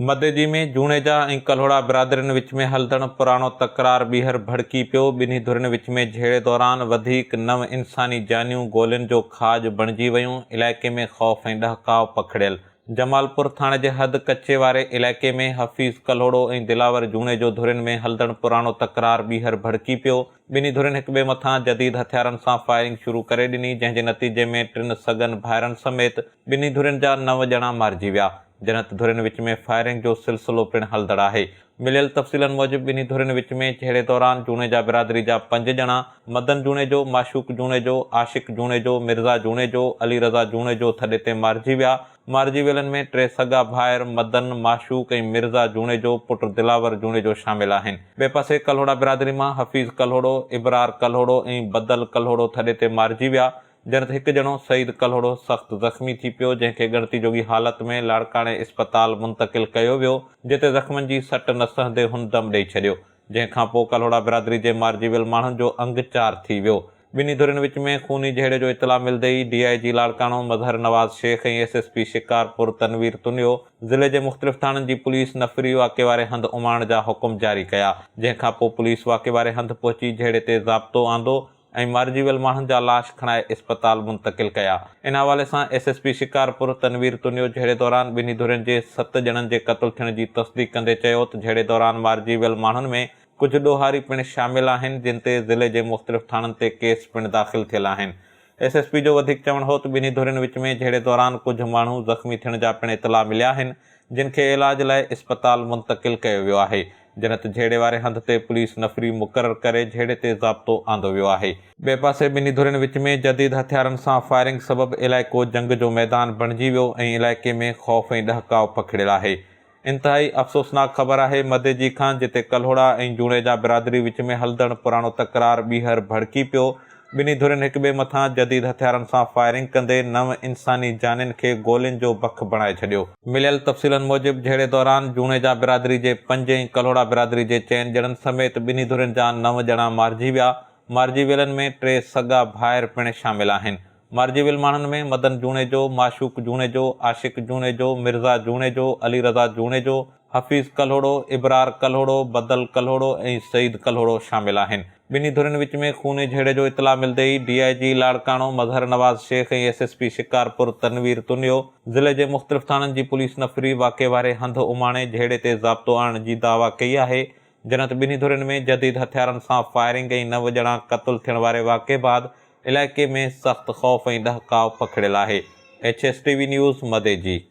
مديجي ۾ جوڻيجا ۽ ڪلهوڙا برادرين وچ ۾ هلندڙ پراڻو تڪرار ٻيهر ڀڙڪي پيو، ٻنهي ڌرين وچ ۾ جهيڙي دوران وڌيڪ نو انساني جانيون گولين جو کاڄ بڻجي ويون، علائقي ۾ خوف ۽ ڏهڪاء پکڙيل، جمالپور ٿاڻي جي حد ڪچي واري علائقي ۾ حفيظ ڪلهوڙو ۽ دلاور جوڻيجو ڌرين ۾ هلندڙ پراڻو تڪرار ٻيهر ڀڙڪي پيو، ٻنهي ڌرين هڪٻئي مٿان جديد هٿيارن سان فائرنگ شروع ڪري ڏني جنهن جي نتيجي ۾ ٽن سڳن ڀائرن سميت ٻنهي ڌرين جا نو ڄڻا مارجي ويا. جنت ڌرين وچ ۾ فائرنگ جو سلسلو پڻ هلندڙ آهي. مليل تفصيلن موجب ٻنهي ڌرين وچ ۾ جهيڙي دوران جوڻيجا برادري جا پنج ڄڻا مدن جوڻيجو، معشوق جوڻيجو، عاشق جوڻيجو، مرزا جوڻيجو، علي رضا جوڻيجو ٿڏي تي مارجي ويا. مارجي ويلن ۾ ٽي سڳا ڀائر مدن، معشوق ۽ مرزا جوڻيجو پٽ دلاور جوڻيجو شامل آهن. ٻئي پاسي ڪلهوڙا برادري مان حفيظ ڪلهوڙو، ابرار ڪلهوڙو ۽ بدل ڪلهوڙو ٿڏي تي مارجي ويا. ڄڻ ته هڪ ڄڻو سعيد ڪلهوڙو سخت زخمي ٿي پيو، جنهن کي ڳڻتي جوڳي حالت ۾ لاڙڪاڻي اسپتال منتقل ڪيو ويو، جتي زخمن جي سٽ نه سهندي هن دم ڏئي ڇڏيو، جنهن کان پوء ڪلهوڙا برادري جي مارجي ويل ماڻهن جو انگ چار ٿي ويو. ٻنهي ڌرين وچ ۾ خوني جهيڙي جو اطلاع ملدي ئي D I G Larkana Mazhar Nawaz Shaikh ۽ S S P Shikarpur Tanveer Tunio ضلعي جي مختلف ٿاڻن جي پوليس نفري واقعي واري هنڌ اماڻڻ جا حڪم جاري ڪيا، جنهن کان پوء پوليس واقعي واري هنڌ پهچي جهيڙي تي ضابطو آندو، ۽ مارجي ويل ماڻهن جا لاش کڻائي اسپتال منتقل ڪيا ان حوالي سان S S P Shikarpur Tanveer Tunio جهيڙي دوران ٻنهي ڌرين جي ست ڄڻن جي قتل ٿيڻ جي تصديق ڪندي چيو ته جهيڙي دوران مارجي ويل ماڻهن ۾ ڪجهه ڏوهاري پڻ شامل آهن جن تي ضلعي جي مختلف ٿاڻن تي ڪيس پڻ داخل ٿيل آهن ايس ايس پي جو وڌيڪ چوڻ هو ته ٻنهي ڌرين وچ ۾ جهيڙي دوران ڪجهه ماڻهو زخمي ٿيڻ جا پڻ اطلاع مليا آهن جن کي علاج لاء اسپتال منتقل ڪيو ويو آهي. جنت جهيڙي واري هنڌ تي پوليس نفري مقرر ڪري جهيڙي تي ضابطو آندو ويو آهي. ٻئي پاسي ٻنهي ڌرين وچ ۾ جديد هٿيارن سان فائرنگ سبب علائقو جنگ جو ميدان بڻجي ويو ۽ علائقي ۾ خوف ۽ ڏهڪاء پکڙيل آهي. انتهائي افسوسناڪ خبر آهي مديجي کان جتي ڪلهوڙا ۽ جوڻيجا برادري وچ ۾ هلدڙ پراڻو تڪرار ٻيهر ڀڙڪي پيو ٻنهي ڌرين هڪٻئي مٿان جديد هٿيارن سان فائرنگ ڪندي نو انساني جانين کي گولين جو بک بڻائي ڇڏيو. مليل تفصيلن موجب جهيڙي دوران جوڻيجا برادري جي پنج ۽ ڪلهوڙا برادري جي چئن ڄڻن سميت ٻنهي ڌرين جا نو ڄڻا مارجي ويا، مارجي ويلن ۾ ٽي سڳا ڀائر پڻ شامل آهن، مارجي ويل ماڻهن ۾ مدن جوڻيجو، معشوق جوڻيجو، عاشق جوڻيجو، مرزا جوڻيجو، علي رضا جوڻيجو، حفيظ ڪلهوڙو، ابرار ڪلهوڙو، بدل ڪلهوڙو ۽ سعيد ڪلهوڙو شامل آهن. ٻنهي ڌرين وچ ۾ خوني جهيڙي جو اطلاع ملندي ئي D I G Larkana Mazhar Nawaz Shaikh ۽ S S P Shikarpur Tanveer Tunio ضلعي جي مختلف ٿاڻن جي پوليس نفري واقعي واري هنڌ اماڻي جهيڙي تي ضابطو آڻڻ جي دعويٰ ڪئي آهي جنت ٻنهي ڌرين ۾ جديد هٿيارن سان فائرنگ ۽ نو ڄڻا قتل ٿيڻ واري واقعي بعد علائقي ۾ سخت خوف ۽ ڏهڪاء پکڙيل آهي H S T V news مدي جي